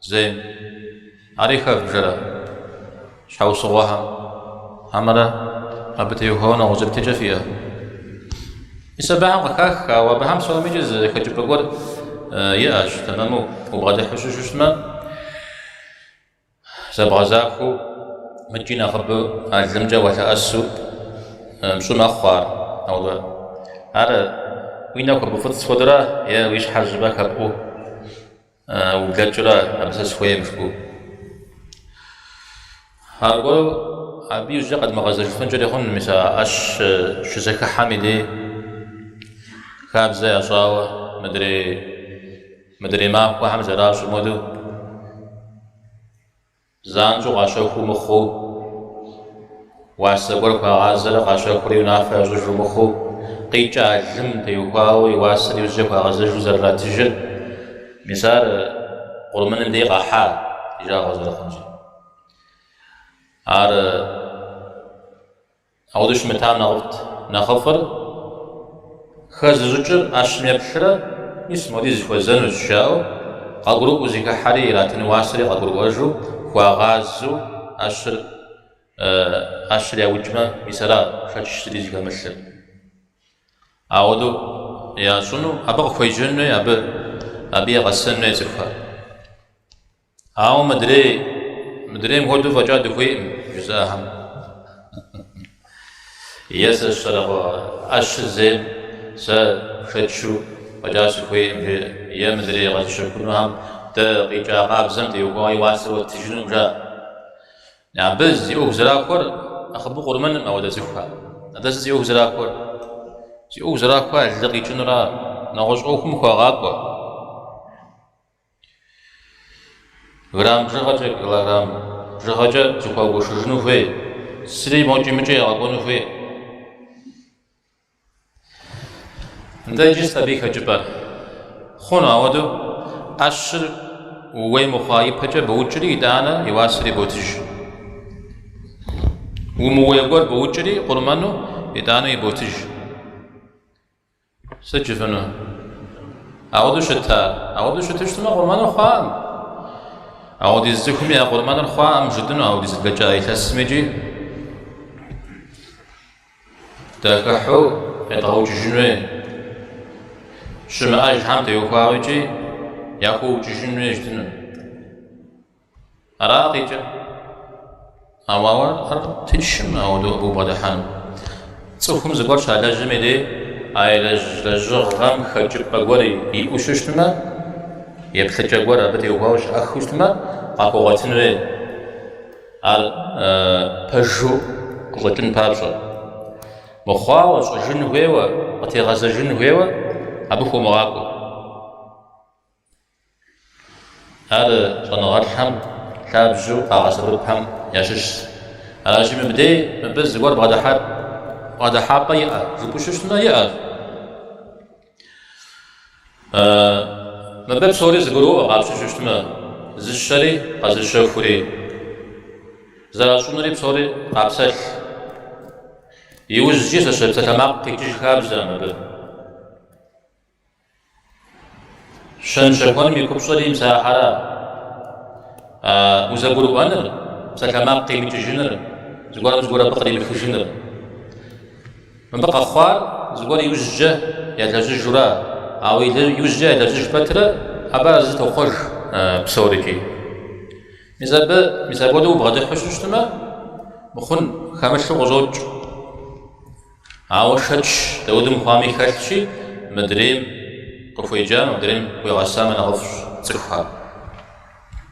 Зейм. Ари хэвбжэрэ щхьэусыгъуэхэм? Хьэмэрэ абы теухуауэ нэгъуэщӏ еплъыкӏэ фиӏэ? Мис абыхэм къыхах, ауэ абыхэм псоми иджы зы хэкӏыпӏэ гуэр иӏэщ, тэмэму убгъэдыхьу щыщытмэ, зэбгъэзахуэу мыкӏи нэхъыбэу а лымкӏэ уалъэӏэсу пщӏу мэхъу ар. Ауэ ар уи нэхэ буфӏыцӏ хуэдэрэ е уи щхьэр жьыбэ хэпӏуу? Ублэкӏрэ абы сэ схуейм жыпӏэу. Аргуэру абы и жьэ къэдмыгъэзэжыфынкӏэри хъуну мис а ӏэщ щызэхыхьэм и дей хабзэ ящӏауэ мыдрей мыдрей махуэхэм зэращӏым хуэдэу. Занщӏэу къащэхуу мыхъуу, уасэ гуэр хуагъазэрэ къащэхури унафэ ящӏыжу мыхъуу, къикӏа лым теухуауэ и уасэр иужькӏэ хуагъэзэжу зэрыратыжыр, мис ар къурмыным дей къэхьа и жагъуэ зэрыхъунщ. Ар Ауэду щымытам нэхъыфӏт. Нэхъыфӏыр хэзыщӏыкӏыр ӏэщым еплърэ, мис моди зыхуэзэнущ, жаӏэу, къэгурыӏуэу зыхыхьэри, иратын уасэри къэгурыӏуэжу, хуагъазэу ӏэщыр, ӏэщыр яукӏмэ, мис ара шэч зыри зыхэмылъыр. Ауэдэу ящӏыну, абы къыхуеджэн хуей, абы, абы егъэсэн хуей цӏыхухэр. Ауэ мыдрей, мыдрейм хуэдэу фӏэкӏа дыхуейкъым, жызыӏэхэм. Е сэ сщэрэгъуэ ӏэщыр зейм сэ шэчу фӏэкӏа сыхуейкъым, жи, е мыдрей къэзыщэхунухэм дэ къикӏа къабзэм теухуауэ и уасэр уэттыжынукъым, жа. Абы зи ӏуэху зэрахуэр нэхъыбэу къурмэным ауэдэ цӏыхухэр. Атӏэ сыт зи ӏуэху зэрахуэр? Зи ӏуэху зэрахуэр лы къикӏынура, нэгъуэщӏ ӏуэхум хуэгъакӏуэ. Грамм бжыгъэкӏэ, килограмм бжыгъэкӏэ зыхуэгушыжыну хуей. Зыри мокӏи мыкӏи ягъэкӏуэну хуей. Нтӏэ иджы сыт абы и хэкӏыпӏэ хъуну? Ауэду ӏэщыр ууей мыхъуа ипэкӏэ боукӏри, итӏанэ и уасэри ботыж. Умыуей гуэр боукӏри, къурмэну, итӏанэ иботыж. Сыт жыфӏыну? Ауэду щыта? Ауэду щыщытмэ, къурмэныр хъуакъым. Аудиз цӏыхуми я къурмэныр хъуакъым жытӏыну аудиз блэкӏа илъэсми икӏи дахыхьу едгъэукӏыжын хуей. Щымыӏэжхэм теухуауэ икӏи яхуэукӏыжын хуей жытӏыну. Аракъикӏэ, ауэ ар тыншкъым ауэдэу абы убгъэдыхьэну, цӏыхум зыгуэр щалэжьым и дей а илэжь лэжьыгъэм хэкӏыпӏэ гуэр иӏэу щыщтмэ, еплъыкӏэ гуэр абы теухуауэ щыӏэхыу щытмэ, къахуэгъуэтын хуей, ар пэжу къыщӏэкӏын папщӏэ. Мыхъуауэ, щӏыжын хуейуэ, къытегъэзэжын хуейуэ абы хуомыгъакӏуэ. Ар щӏэныгъэлӏхэм лъабжьэу къагъэсэбэпхэм ящыщщ. Аращи, мыбдей мыбы зыгуэр бгъэдыхьар бгъэдыхьэпӏэ иӏэ жыпӏэу щыщтмэ, иӏэщ. Мыбы псори зэгуроӏуэ къапщтэу щыщтмэ, зыщэри къэзыщэхури, зэращӏынури псори къапсэлъ. Иужькӏи зы псалъэмакъ къикӏыж хабзэкъым абы. Щэнщэхуэным и купщӏэри мис ахэращ. Узэгурыӏуэныр, псалъэмакъ къимыкӏыжыныр, зыгуэрым зыгуэр абы къримыхыжыныр. Мыбы къэхъуар зыгуэр иужькӏэ ялэжьыжуращ. Ауэ иужькӏэ ялэжьыж пэтрэ абы арэзы тохъуэж псорикӏи. Мис абы, мис апхуэдэу убгъэдыхьу щыщтмэ, мыхъун хэмылъу къыщӏокӏ. Ауэ шэч дауэдэу мыхъуами хэлъщи, мыдрейм къыхуеджамэ, мыдрейм хуегъэсамэ нэхъыфӏщ цӏыхухэр.